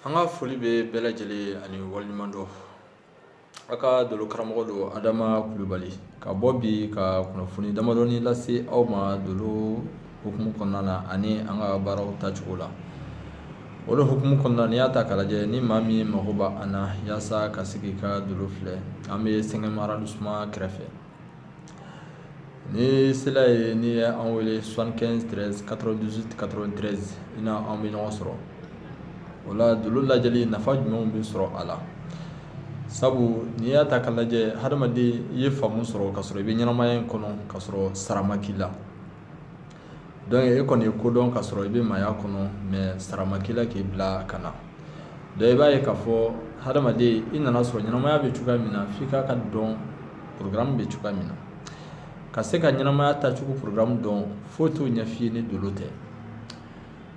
an ka foli bɛ bɛɛ lajɛlen ani waliɲumandɔn aw ka dolo karamɔgɔ don adama kulubali ka bɔ bi ka kunnafoni damadɔni lase aw ma dolo hukumu kɔnɔna na ani an ka baaraw tacogo la o hukumu kɔnɔna n'i y'a ta k'a lajɛ ni maa min mago b'an na yaasa ka sigi ka dolo filɛ an bɛ cinquième arrondissement kɛrɛfɛ N'i sera yen i ye an wele soixante-quinze treize quatre-vingt-dix-huit quatre-vingt-treize i na an bɛ ɲɔgɔn sɔrɔ o la dolo lajɛli nafa jumɛnw bɛ sɔrɔ a la sabu n'i y'a ta k'a lajɛ hadamaden i ye faamu sɔrɔ ka sɔrɔ i bɛ ɲɛnamaya in kɔnɔ ka sɔrɔ sara ma k'i la dɔnku e kɔni ye ko dɔn ka sɔrɔ i bɛ maaya kɔnɔ mɛ sara ma k'i la k'i bila ka na dɔnku i b'a ye k'a fɔ hadamaden i nana sɔrɔ ɲɛnamaya bɛ cogoya min na f'i k'a ka dɔn porogaramu bɛ cogoya min na ka se ka ɲɛnamaya tacogo porogaramu dɔn foyi t'o ɲɛf'i ye ni dolo tɛ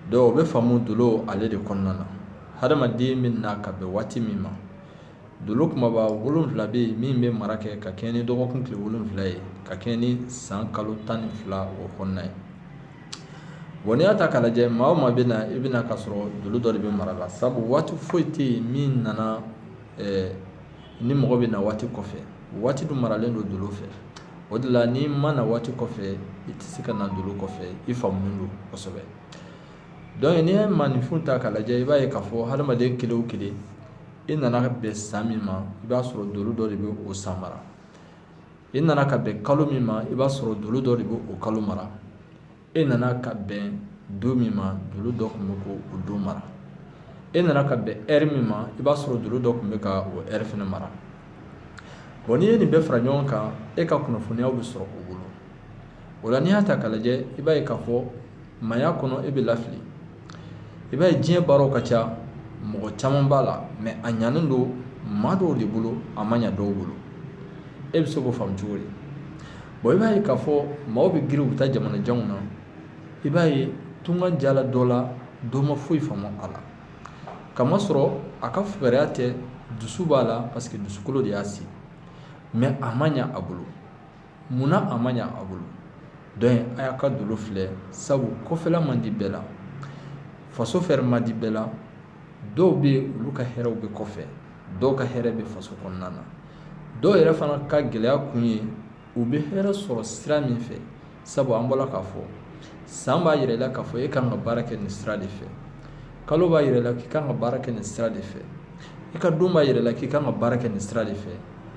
dɔnku o bɛ faamu dolo ale de kɔnɔna na hadamaden bɛ na ka bɛn waati min ma Dolo kumaba wolonwula bɛ yen min bɛ mara kɛ ka kɛɲɛ ni dɔgɔkun tile wolonwula ye ka kɛɲɛ ni san kalo tan ni fila o kɔnɔna ye bɔn n'i y'a ta k'a lajɛ maa o maa bɛ na i bɛ na ka sɔrɔ dolo dɔ de bɛ mara la sabu waati foyi tɛ yen min nana ni mɔgɔ bɛ na waati kɔfɛ waati dun maralen don dolo fɛ o de la n'i ma na waati kɔfɛ i tɛ se ka na dolo kɔfɛ i faamunen don kosɛbɛ dɔnku n'i ye maaninfin ta k'a lajɛ i b'a ye k'a fɔ hadamaden kelen kelen i nana bɛn san min ma i b'a sɔrɔ dolo dɔ de bɛ o san mara i nana ka bɛn kalo min ma i b'a sɔrɔ dolo dɔ de bɛ o kalo mara e nana ka bɛn don min ma dolo dɔ tun bɛ k'o don mara e nana ka bɛn ɛri min ma i b'a sɔrɔ dolo dɔ tun bɛ ka o ɛri fana mara bɔn n'i ye nin bɛɛ fara ɲɔgɔn kan e ka kunnafoniyaw bɛ sɔrɔ o bolo o la n'i y'a ta k'a lajɛ i b'a ye k'a fɔ maaya kɔnɔ e bɛ lafili I b'a ye diɲɛ baaraw ka ca mɔgɔ caman b'a la mɛ a ɲanen don maa dɔw de bolo a ma ɲa dɔw bolo e bɛ se k'o faamu cogo di bon i b'a ye k'a fɔ maaw bɛ girin u bɛ taa jamana janw na i b'a ye tunga diyala dɔ la dɔ ma foyi faamu a la k'a masɔrɔ a ka fugariya tɛ dusu b'a la parce que dusukolo de y'a se mɛ a ma ɲa a bolo munna a ma ɲa a bolo dɔnku a y'a ka dolo filɛ sabu kɔfɛla man di bɛɛ la faso fɛnɛ man di bɛɛ la dɔw bɛ yen olu ka hɛrɛw bɛ kɔfɛ dɔw ka hɛrɛ bɛ faso kɔnɔna na dɔw yɛrɛ fana ka gɛlɛya kun ye u bɛ hɛrɛ sɔrɔ sira min fɛ sabu an bɔra k'a fɔ san b'a yira i la k'a fɔ e kan ka baara kɛ nin sira de fɛ kalo b'a yira i la k'i kan ka baara kɛ nin sira de fɛ i ka don b'a yira i la k'i kan ka baara kɛ nin sira de fɛ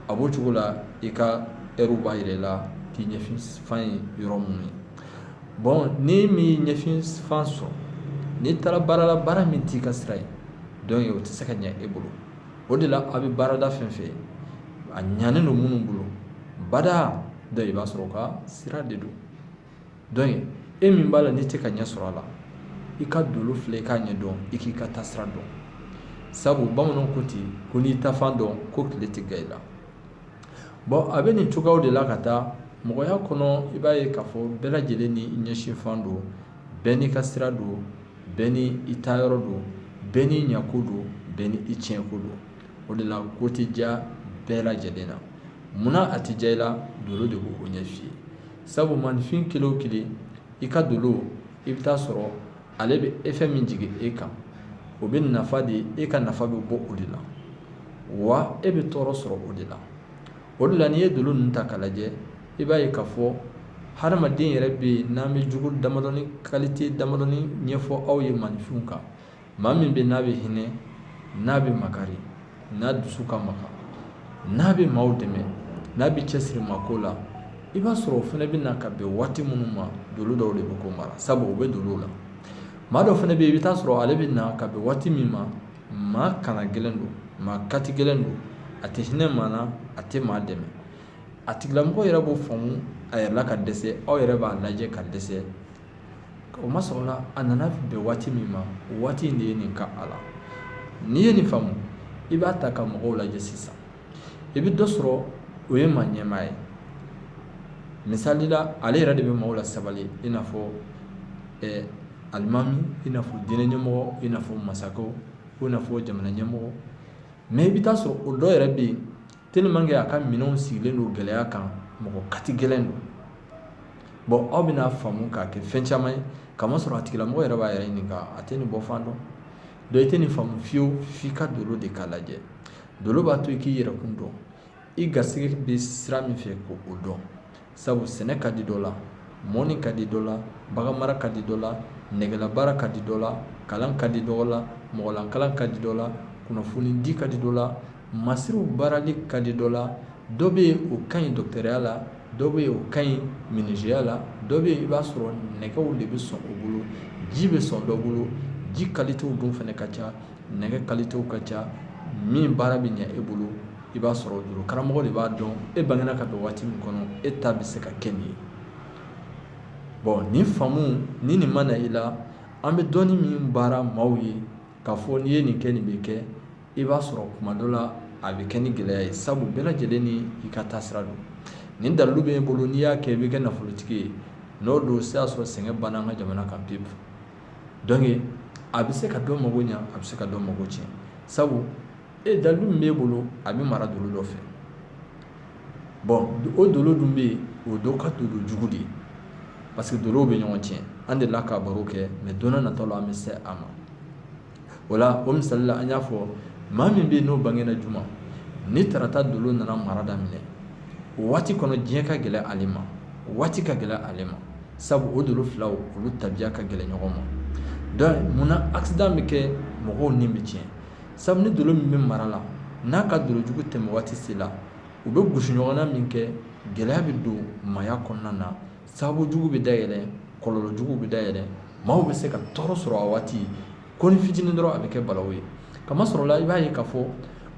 a b'o cogo la i ka heure b'a yira i la k'i ɲɛsinfan ye yɔrɔ minnu ye bon n'i m'i ɲɛsinfan sɔrɔ n'i taara baara la baara min t'i ka sira ye donc o tɛ se ka ɲɛ e bolo o de la a bɛ baarada fɛn fɛn a ɲanen don minnu bolo bada donc i b'a sɔrɔ u ka sira de don e min b'a la n'i tɛ ka ɲɛ sɔrɔ a la i ka dolo filɛ i k'a ɲɛ dɔn i k'i ka taasira dɔn sabu bamananw ko ten ko n'i taafan dɔn ko tile tɛ gan i la bon a bɛ nin cogoyaw de la ka taa mɔgɔya kɔnɔ i b'a ye k'a fɔ bɛɛ lajɛlen n'i ɲɛsinfan don bɛɛ n'i ka sira don bɛɛ ni i taayɔrɔ don bɛɛ n'i ɲɛko don bɛɛ ni i tiɲɛko don o de la ko tɛ diya bɛɛ lajɛlen na munna a tɛ diya i la dolo de b'o ɲɛf'i ye sabu maninfin kelen o kelen i ka dolo i bɛ taa sɔrɔ ale bɛ effet min jigin e kan o bɛ nafa de e ka nafa bɛ bɔ o de la wa e bɛ tɔɔrɔ sɔrɔ o de la o de la n'i ye dolo ninnu ta k'a lajɛ i b'a ye k'a fɔ hadamaden yɛrɛ bɛ yen n'an bɛ jogo damadɔni kalite damadɔni ɲɛfɔ aw ye maninfinw kan maa min bɛ n'a bɛ hinɛ n'a bɛ makari n'a dusu ka magan n'a bɛ maaw dɛmɛ n'a bɛ cɛsiri maa ko la i b'a sɔrɔ o fana bɛ na ka bɛn waati minnu ma dolo dɔw de bɛ k'o mara sabu o bɛ dolo la maa dɔ fana bɛ yen i bɛ taa sɔrɔ ale bɛ na ka bɛn waati min ma maa kana gɛlɛn don maa kati gɛlɛn don a tɛ hinɛ maa na a tɛ maa dɛmɛ a tigilamɔgɔ yɛrɛ b'o faamu a yɛrɛ la ka dɛsɛ aw yɛrɛ b'a lajɛ ka dɛsɛ o masɔrɔla a nana bɛn waati min ma o waati in de ye nin k'a la n'i ye nin faamu i b'a ta ka mɔgɔw lajɛ sisan i bɛ dɔ sɔrɔ o ye maa ɲɛmaa ye misali la ale yɛrɛ de bɛ maaw lasabali i n'a fɔ ɛɛ alimami i n'a fɔ diinɛ ɲɛmɔgɔ i n'a fɔ masakɛw i n'a fɔ jamana ɲɛmɔgɔ mais i bɛ taa sɔrɔ o dɔ yɛrɛ bɛ yen tellement que a ka minɛnw sigilen don gɛlɛya kan mɔgɔ kati gɛlɛn don bon aw bɛna faamu k'a kɛ fɛn caman ye k'a masɔrɔ a tigilamɔgɔ yɛrɛ b'a yɛrɛ ɲininka a tɛ nin bɔ fan dɔn donc i tɛ nin faamu fiyewu f'i ka dolo de ka lajɛ dolo b'a to i k'i yɛrɛkun dɔn i garisɛgɛ bɛ sira min fɛ k'o dɔn sabu sɛnɛ ka di dɔ la mɔnni ka di dɔ la bagan mara ka di dɔ la nɛgɛlabaara ka di dɔ la kalan ka di dɔ la mɔgɔlakalan ka di dɔ la kunnafoni di ka di dɔ la masiriw baarali ka di dɔ la dɔ bɛ yen o ka ɲi dɔgɔtɔrɔya la dɔ bɛ yen o ka ɲi minizeya la dɔ bɛ yen i b'a sɔrɔ nɛgɛw de bɛ sɔn o bolo ji bɛ sɔn dɔ bolo ji kalitew dun fana ka ca nɛgɛ kalitew ka ca min baara bɛ ɲɛ e bolo i b'a sɔrɔ dolo karamɔgɔ de b'a dɔn e bangena ka don waati min kɔnɔ e ta bɛ se ka kɛ nin ye bon nin faamu ni nin ma na i la an bɛ dɔnni min baara maaw ye k'a fɔ n'i ye nin kɛ nin bɛ kɛ i b'a sɔrɔ kuma dɔ la a bɛ kɛ ni gɛlɛya ye sabu bɛɛ lajɛlen ni i ka taasira don nin dalilu bɛ e bolo n'i y'a kɛ i bɛ kɛ nafolotigi ye n'o don se y'a sɔrɔ sɛgɛn banna an ka jamana kan pewu donc a bɛ se ka dɔ mago ɲa a bɛ se ka dɔ mago tiɲɛ sabu e dalilu min b'e bolo a bɛ mara dolo dɔ fɛ bon o dolo dun bɛ yen o dɔ ka dolo jugu de ye parce que dolow bɛ ɲɔgɔn tiɲɛ an delila ka baro kɛ mais don nataw la an bɛ se a ma o la o misali la an y'a fɔ maa min bɛ yen n'o bangena juma ni tarata dolo nana mara daminɛ o waati kɔnɔ diɲɛ ka gɛlɛn ale ma waati ka gɛlɛn ale ma sabu o dolo filaw olu tabiya ka gɛlɛn ɲɔgɔn ma munna accident bɛ kɛ mɔgɔw ni bɛ tiɲɛ sabu ni dolo min bɛ mara la n'a ka dolo jugu tɛmɛ waati sela u bɛ gosi ɲɔgɔn na minkɛ gɛlɛya bɛ don maaya kɔnɔna na sababu jugu bɛ dayɛlɛ kɔlɔlɔ jugu bɛ dayɛlɛ maaw bɛ se ka tɔɔrɔ sɔrɔ a waati konin fitinin dɔrɔn a bɛ kɛ balawu ye k'a masɔrɔ la i b'a ye k'a fɔ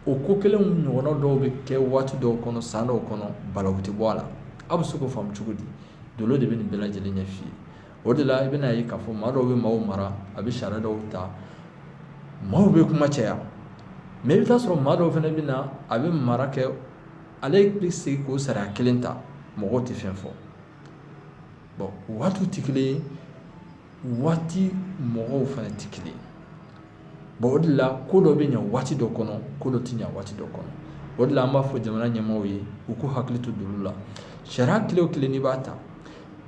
o ko kelen ɲɔgɔnna dɔw bɛ kɛ waati dɔw kɔnɔ san dɔw kɔnɔ balawu tɛ bɔ a la aw bɛ se k'o faamu cogo di dolo de bɛ nin bɛɛ lajɛlen ɲɛf'i ye o de la i bɛna ye k'a fɔ maa dɔw bɛ maaw mara a bɛ sariya dɔw ta maaw bɛ kuma caya mais i bɛ t'a sɔrɔ maa dɔw fana bɛ na a bɛ mara kɛ ale bɛ segin k'o sariya kelen ta mɔgɔw tɛ fɛn fɔ bon waatiw tɛ kelen ye waati mɔgɔw fana tɛ kelen ye bon o de la ko dɔ bɛ ɲɛ waati dɔ kɔnɔ ko dɔ tɛ ɲɛ waati dɔ kɔnɔ o de la an b'a fɔ jamana ɲɛmaaw ye u k'u hakili to dolo la sariya kelen o kelen n'i b'a ta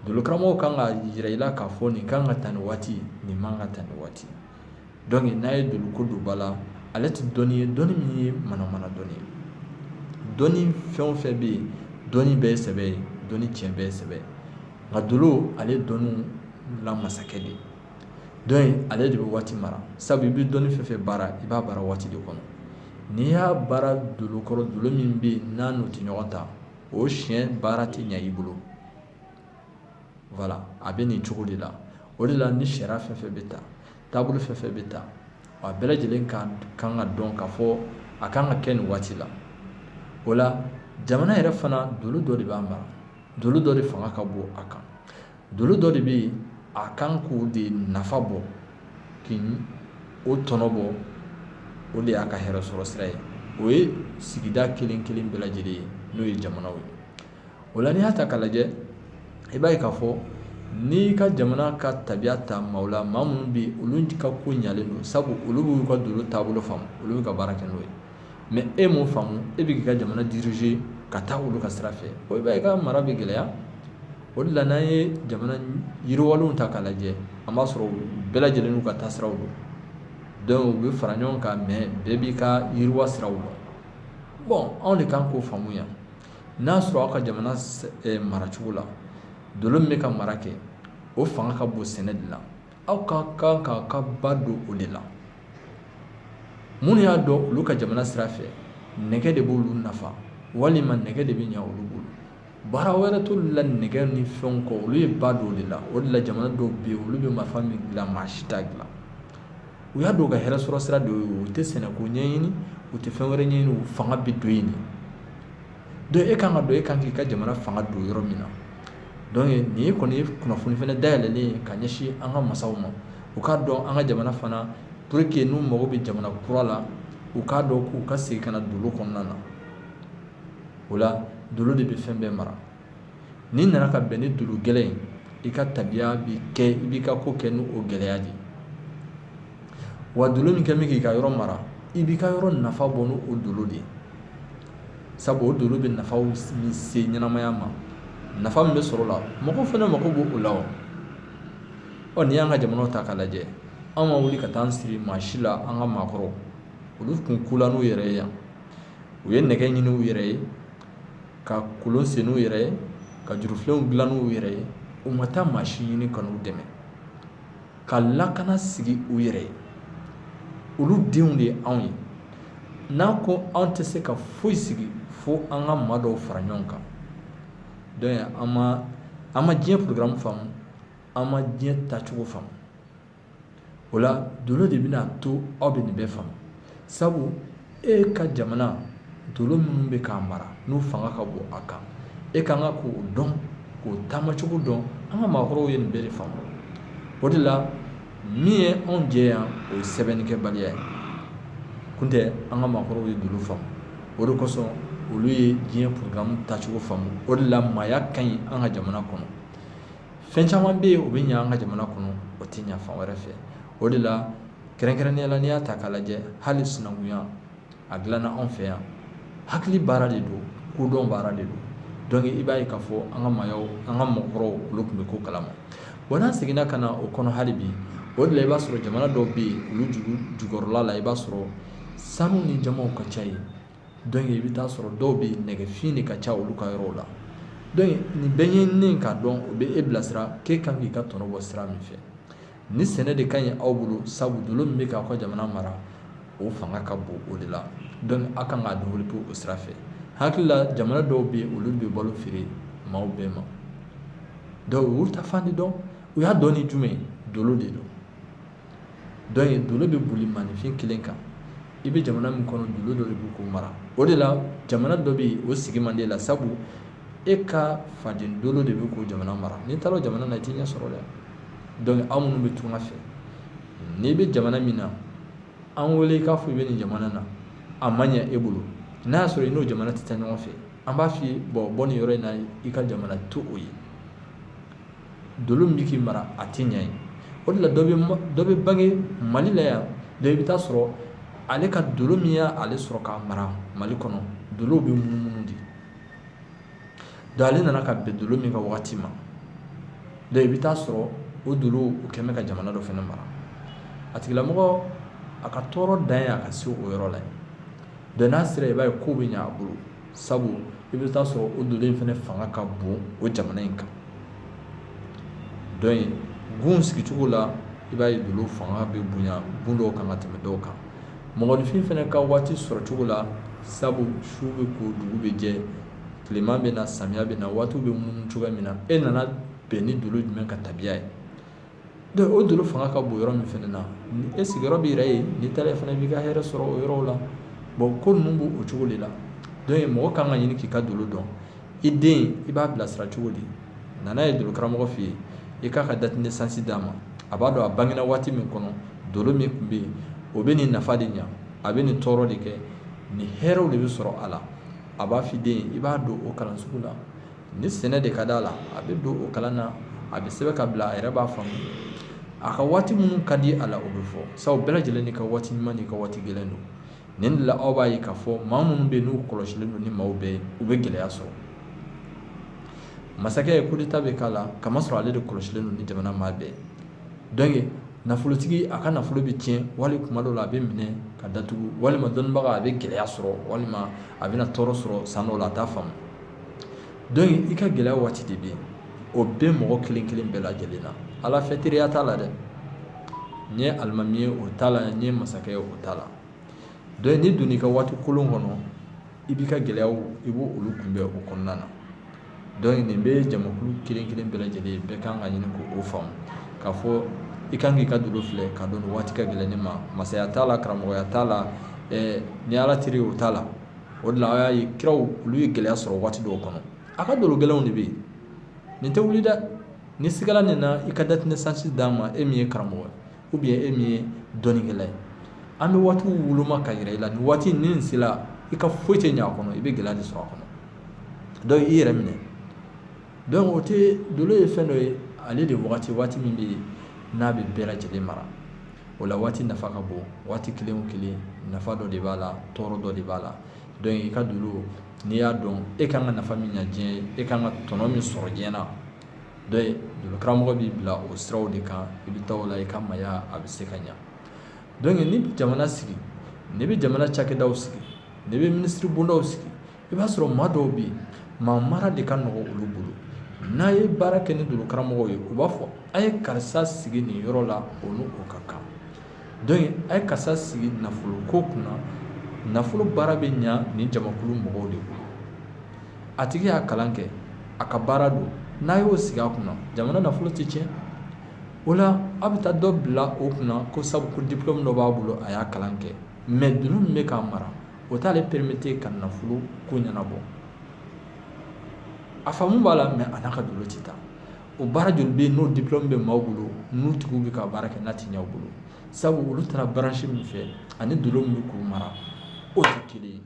dolo karamɔgɔw kan k'a jira i la k'a fɔ nin kan ka ta nin waati nin man ka ta nin waati donc n'a ye dolo ko don ba la ale tɛ dɔnni ye dɔnni min ye manamana dɔnni ye dɔnni fɛn o fɛn bɛ yen dɔnni bɛɛ ye sɛbɛ ye dɔnni tiɲɛ bɛɛ ye sɛbɛ ye nka dolo ale ye dɔnniw la masakɛ de ye ale de bɛ waati mara sabu i bɛ dɔnni fɛn fɛn baara i b'a baara waati de kɔnɔ n'i y'a baara dolo kɔrɔ dolo min bɛ yen n'a n'o tɛ ɲɔgɔn ta o siyɛn baara tɛ ɲɛ i bolo a bɛ nin cogo de la o de la ni sariya fɛn fɛn bɛ ta taabolo fɛn fɛn bɛ ta a bɛɛ lajɛlen ka kan ka dɔn k'a fɔ a kan ka kɛ nin waati la o la jamana yɛrɛ fana dolo dɔ de b'a mara dolo dɔ de fanga ka bon a kan dolo dɔ de bɛ yen a kan k'o de nafa bɔ k'o tɔnɔ bɔ o de y'a ka hɛrɛ sɔrɔ sira ye o ye sigida kelen kelen bɛɛ lajɛlen ye n'o ye jamanaw ye o la n'i y'a ta k'a lajɛ i b'a ye k'a fɔ n'i ka jamana ka tabiya ta maaw la maa minnu bɛ olu ka ko ɲalen don sabu olu b'u ka dolo taabolo faamu olu bɛ ka baara kɛ n'o ye mɛ e m'o faamu e bɛ k'i ka jamana dirize ka taa olu ka sira fɛ o i ka mara bɛ gɛlɛya o de la n'an ye jamana yiriwalenw ta k'a lajɛ an b'a sɔrɔ bɛɛ lajɛlen n'u ka taa siraw don dɔnku u bɛ fara ɲɔgɔn kan mɛ bɛɛ b'i ka yiriwa siraw dɔn bɔn anw de kan k'o faamu yan n'a sɔrɔ aw ka jamana maracogo la dolo min bɛ ka mara kɛ o fanga ka bon sɛnɛ de la aw ka kan k'a ka ba don o de la minnu y'a dɔn olu ka jamana sira fɛ nɛgɛ de b'olu nafa walima nɛgɛ de bɛ ɲɛ olu bolo baara wɛrɛ t'olu la nɛgɛ ni fɛnw kɔ olu ye ba don o de la o de la jamana dɔw bɛ yen olu bɛ marifa min dilan maa si t'a dilan u y'a dɔn u ka hɛrɛ sɔrɔ sira dɔ ye u tɛ sɛnɛko ɲɛɲini u tɛ fɛn wɛrɛ ɲɛɲini u fanga bɛ don yen de donc e kan k'a dɔn e kan k'i ka jamana fanga don yɔrɔ min na nin ye kɔni ye kunnafoni fana dayɛlɛlen ye ka ɲɛsin an ka masaw ma u k'a dɔn an ka jamana fana pour que n'u mago bɛ jamana kura la u k'a dɔn k'u ka segin ka na dolo kɔnɔna na o la dolo de bɛ fɛn bɛɛ mara n'i nana ka bɛn ni dolo gɛlɛn ye i ka tabiya bɛ kɛ i b'i ka ko kɛ n'o gɛlɛya de ye wa dolo min kɛ bɛ k'i ka yɔrɔ mara i b'i ka yɔrɔ nafa bɔ n'o dolo de ye sabu o dolo bɛ nafaw min se ɲɛnamaya ma nafa min bɛ sɔrɔ o la mɔgɔ fana mago b'o la wa ɔ n'i y'an ka jamanaw ta k'a lajɛ an ma wuli ka taa an siri maa si la an ka maakɔrɔw olu tun ko la n'u yɛrɛ ye yan u ye nɛgɛ ɲini u yɛrɛ ye ka kɔlɔn sen u yɛrɛ ye ka jurufilenw dilan u yɛrɛ ye u ma taa maa si ɲini ka n'u dɛmɛ ka lakana sigi u yɛrɛ ye olu denw de ye anw ye n'an ko anw tɛ se ka foyi sigi fo an ka maa dɔw fara ɲɔgɔn kan donc an ma diɲɛ programme faamu an ma diɲɛ tacogo faamu o la dolo de bɛna to aw bɛ nin bɛɛ faamu sabu e ka jamana dolo minnu bɛ k'a mara n'u fanga ka bon a kan e ka kan k'o dɔn k'o taamacogo dɔn an ka maakɔrɔw ye nin bɛɛ de faamu o de la min ye anw jɛ yan o ye sɛbɛnnikɛbaliya ye kun tɛ an ka maakɔrɔw ye dolo faamu o de kosɔn olu ye diɲɛ programme tacogo faamu o de la maaya ka ɲi an ka jamana kɔnɔ fɛn caman bɛ yen o bɛ ɲɛ an ka jamana kɔnɔ o tɛ ɲɛ fan wɛrɛ fɛ o de la kɛrɛnkɛrɛnnenya la n'i y'a ta k'a lajɛ hali sinankunya a dilanna anw fɛ yan hakili baara de don kodɔn baara de don donc i b'a ye k'a fɔ an ka maayaw an ka mɔgɔkɔrɔw olu tun bɛ ko kalama wa n'an seginna ka na o kɔnɔ hali bi o de la i b'a sɔrɔ jamana dɔw bɛ yen olu dugu jukɔrɔla la i b'a sɔrɔ sanu ni jamanw ka ca yen donc i bɛ taa sɔrɔ dɔw bɛ yen nɛgɛfin de ka ca olu ka yɔrɔw la donc nin bɛɛ ɲɛɲininen k'a dɔn o bɛ e bilasira k'e kan k'i ka tɔnɔ bɔ sira min fɛ ni sɛnɛ de ka ɲi aw bolo sabu dolo min bɛ k'aw ka jamana mara o fanga ka bon o de la dɔnku aw kan k'a développer o sira fɛ hakili la jamana dɔw bɛ yen olu bɛ balo feere maaw bɛɛ ma donc olu ta fan de dɔn u y'a dɔn ni jumɛn dolo de don dɔnku dolo bɛ boli maaninfin kelen kan i bɛ jamana min kɔnɔ dolo dɔ de bɛ k'o mara o de la jamana dɔ bɛ yen o sigi man d'i la sabu e ka faden dolo de bɛ k'o jamana mara n'i taara jamana na i t'i ɲɛ sɔrɔ dɛ dɔnku aw minnu bɛ tunga fɛ n'i bɛ jamana min na an weele i k'a fɔ i bɛ nin jamana na a ma ɲɛ e bolo n'a y'a sɔrɔ i n'o jamana tɛ taa ɲɔgɔn fɛ an b'a fɔ bon bɔ nin yɔrɔ in na i ka jamana to o ye dolo min bɛ k'i mara a tɛ ɲɛ ye o de la dɔ bɛ bange mali la yan donc i bɛ taa sɔrɔ ale ka dolo min y'ale sɔrɔ k'a mara mali kɔnɔ dolow bɛ munumunu de donc ale nana ka bɛn dolo min ka wagati ma donc i bɛ taa sɔrɔ o dolo o kɛlen bɛ ka jamana dɔ fana mara a tigilamɔgɔ a ka tɔɔrɔ dan ye a ka se o yɔrɔ la donc n'a sera i b'a ye ko bɛ ɲɛ a bolo sabu i bɛ taa sɔrɔ o dolo in fana fanga ka bon o jamana in kan donc gun sigicogo la i b'a ye dolo fanga bɛ bonya gun dɔw kan ka tɛmɛ dɔw kan mɔgɔninfin fana ka waati sɔrɔ cogo la sabu su bɛ ko dugu bɛ jɛ tilema bɛ na samiya bɛ na waatiw bɛ munumunu cogoya min na e nana bɛn ni dolo jumɛn ka tabiya ye donc o dolo fanga ka bon yɔrɔ min fana na e sigiyɔrɔ b'i yɛrɛ ye n'i taara fana b'i ka hɛrɛ sɔrɔ o yɔrɔw la bon ko ninnu b'o cogo de la donc mɔgɔ kan ka ɲini k'i ka dolo dɔn i den i b'a bilasira cogo di na n'a ye dolo karamɔgɔ fɛ yen i k'a ka date de naissance d'a ma a b'a dɔn a bangena waati min kɔnɔ dolo min tun bɛ yen o bɛ nin nafa de ɲɛ a bɛ nin tɔɔrɔ de kɛ nin hɛrɛw de bɛ sɔrɔ a la a b'a f'i den i b'a don o kalan sugu la ni sɛnɛ de ka d'a la a bɛ don o kalan na a bɛ sɛbɛn ka bila a yɛrɛ b'a faamu a ka waati minnu ka di a la o bɛ fɔ sabu bɛɛ lajɛlen n'i ka waati ɲuman n'i ka waati gɛlɛn don nin de la aw b'a ye k'a fɔ maa minnu bɛ yen n'u kɔlɔsilen don ni maaw bɛɛ ye u bɛ gɛlɛya sɔrɔ masakɛ ye coup d'état bɛ k'a la kamasɔrɔ ale de kɔlɔsilen don ni jamana maa bɛɛ ye nafolotigi a ka nafolo bɛ tiɲɛ wali kuma dɔw la a bɛ minɛ ka datugu walima dɔnnibaga a bɛ gɛlɛya sɔrɔ walima a bɛna tɔɔrɔ sɔrɔ san dɔw la a t'a faamu i ka gɛlɛya waati de bɛ yen o bɛ mɔgɔ kelen kelen bɛɛ lajɛlen na ala fɛ teriya t'a la dɛ n ye alimami ye o t'a la n ye masakɛ ye o t'a la Donc n'i don i ka waati kolon kɔnɔ i b'i ka gɛlɛya i b' olu kunbɛn o kɔnɔna na donc nin bɛ jamakulu kelen kelen bɛɛ lajɛlen bɛɛ kan ka ɲini k' o faamu k'a fɔ i kan k'i ka dolo filɛ k'a dɔn waati ka gɛlɛn ne ma masaya t'a la karamɔgɔya t'a la ni ala teri o t'a la o la a y'a ye kiraw olu ye gɛlɛya sɔrɔ waati dɔw kɔnɔ a ka dolo gɛlɛnw de bɛ yen nin tɛ wuli dɛ n'i sigala nin na i ka date de naissance d'a ma e min ye karamɔgɔ ou bien e min ye dɔnnikɛla ye an bɛ waatiw woloma ka jira i la ni waati nin sera i ka foyi tɛ ɲɛ a kɔnɔ i bɛ gɛlɛya de sɔrɔ a kɔnɔ donc i yɛrɛ minɛ donc o tɛ dolo ye fɛn dɔ ye ale de waati waati min bɛ yen n'a bɛ bɛɛ lajɛlen mara o la waati nafa ka bon waati kelen kelen nafa dɔ de b'a la tɔɔrɔ dɔ de b'a la donc i ka dolo n'i y'a dɔn e ka kan ka nafa min ɲɛ diɲɛ ye e ka kan ka tɔnɔ min sɔrɔ diɲɛ na karamɔgɔ b'i bila o siraw de kan i bɛ taa o la i ka maaya a bɛ se ka ɲɛ donc n'i bɛ jamana sigi n'i bɛ jamana cakɛdaw sigi n'i bɛ minisiri bondaw sigi i b'a sɔrɔ maa dɔw bɛ yen maa mara de ka nɔgɔ olu bolo n'a ye baara kɛ ni dolo karamɔgɔw ye u b'a fɔ a ye karisa sigi nin yɔrɔ la o ni o ka kan donc a ye karisa sigi nafolo ko kunna nafolo baara bɛ ɲɛ nin jamakulu mɔgɔw de bolo a tigi y'a kalan kɛ a ka baara don n'a y'o sigi a kunna jamana nafolo tɛ tiɲɛ o la a bɛ taa dɔ bila o kunna ko sabu ko diplôme dɔ b'a bolo a y'a kalan kɛ mais dolo min bɛ k'a mara o t'ale permettre ka nafolo ko ɲɛnabɔ a faamu b'a la mais a n'a ka dolo tɛ taa o baara joli bɛ yen n'o diplôme bɛ maaw bolo n'u tigiw bɛ ka baara kɛ n'a tɛ ɲɛ u bolo sabu olu taara branche min fɛ ani dolo min bɛ k'u mara o tɛ kelen ye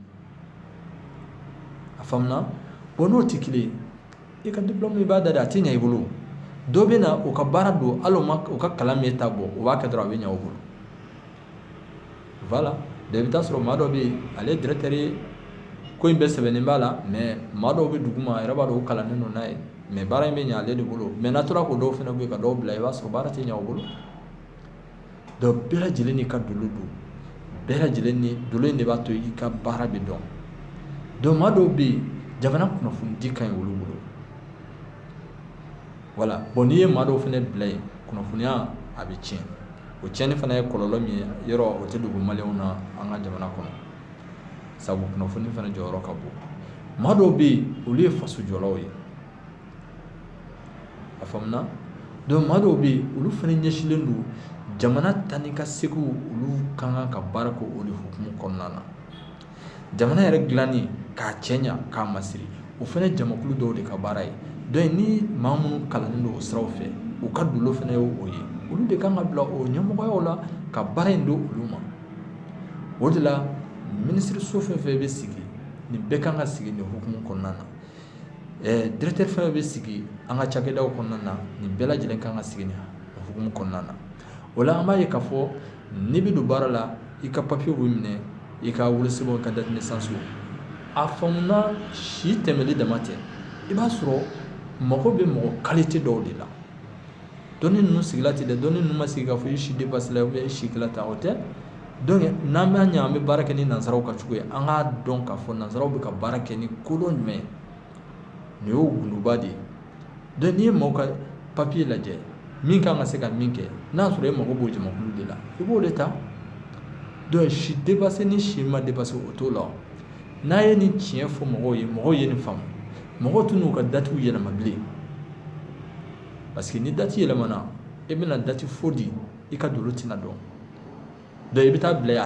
a faamuna bon n'o tɛ kelen i ka diplôme i b'a da de a tɛ ɲɛ i bolo dɔ bɛ na o ka baara don hali o ka kalan m'i ta bɔ o b'a kɛ dɔrɔn a bɛ ɲɛ o bolo voilà i bɛ taa sɔrɔ maa dɔ bɛ yen ale ye directeur ye ko in bɛɛ sɛbɛnnen b'a la mais maa dɔw bɛ duguma a yɛrɛ b'a dɔn o kalannen don n'a ye mais baara in bɛ ɲɛ ale de bolo mais n'a tora k'o dɔw fana bɔ yen ka dɔw bila i b'a sɔrɔ baara tɛ ɲɛ u bolo donc bɛɛ lajɛlen n'i ka dolo don bɛɛ lajɛlen ni dolo in de b'a to i ka baara bɛ dɔn donc maa dɔw bɛ yen jamana kunnafonidi ka ɲi olu bolo voilà bon n'i ye maa dɔw fana bila yen kunnafoniya a bɛ tiɲɛ o tiɲɛni fana ye kɔlɔlɔ min ye yɔrɔ o tɛ dogo maliyɛnw na an ka jamana kɔnɔ sabu kunnafoni fana jɔyɔrɔ ka bon maa dɔw bɛ yen olu ye faso jɔlaw ye a faamuna donc maa dɔw bɛ yen olu fana ɲɛsinlen don jamana taa ni ka seginw olu ka kan ka baara kɛ o de hukumu kɔnɔna na jamana yɛrɛ dilanni k'a cɛɲa k'a masiri o fana ye jamakulu dɔw de ka baara ye donc ni maa minnu kalannen don o siraw fɛ u ka dolo fana ye o ye olu de kan ka bila o ɲɛmɔgɔyaw la ka baara in don olu ma o de la minisiriso fɛn fɛn bɛ sigi nin bɛɛ kan ka sigi nin hukumu kɔnɔna na directeur fɛn fɛn bɛ sigi an ka cakɛdaw kɔnɔna na nin bɛɛ lajɛlen kan ka sigi nin hukumu kɔnɔna na o la an b'a ye k'a fɔ n'i bɛ don baara la i ka papiye bɛ minɛ i ka wolosɛbɛn i ka date de naissance a faamuna si tɛmɛli dama tɛ i b'a sɔrɔ mago bɛ mɔgɔ qualité dɔw de la dɔnni ninnu sigila ten dɛ dɔnni ninnu ma sigi k'a fɔ i si dépassé la i si kɛla tan o tɛ donc n'an b'a ɲɛ an bɛ baara kɛ ni nansaraw ka cogo ye an k'a dɔn k'a fɔ nansaraw bɛ ka baara kɛ ni kodɔn jumɛn ye nin y'o gundoba de ye donc n'i ye maaw ka papiye lajɛ min kan ka se ka min kɛ n'a sɔrɔ e mago b'o jamakulu de la i b'o de ta donc si dépassé ni si ma dépassé o t'o la n'a ye nin tiɲɛ fɔ mɔgɔw ye mɔgɔw ye nin faamu mɔgɔw tɛn'u ka datiw yɛlɛma bilen parce que ni dati yɛlɛmana e bɛna dati faux di i ka dolo tɛna dɔn donc i bɛ taa bila yan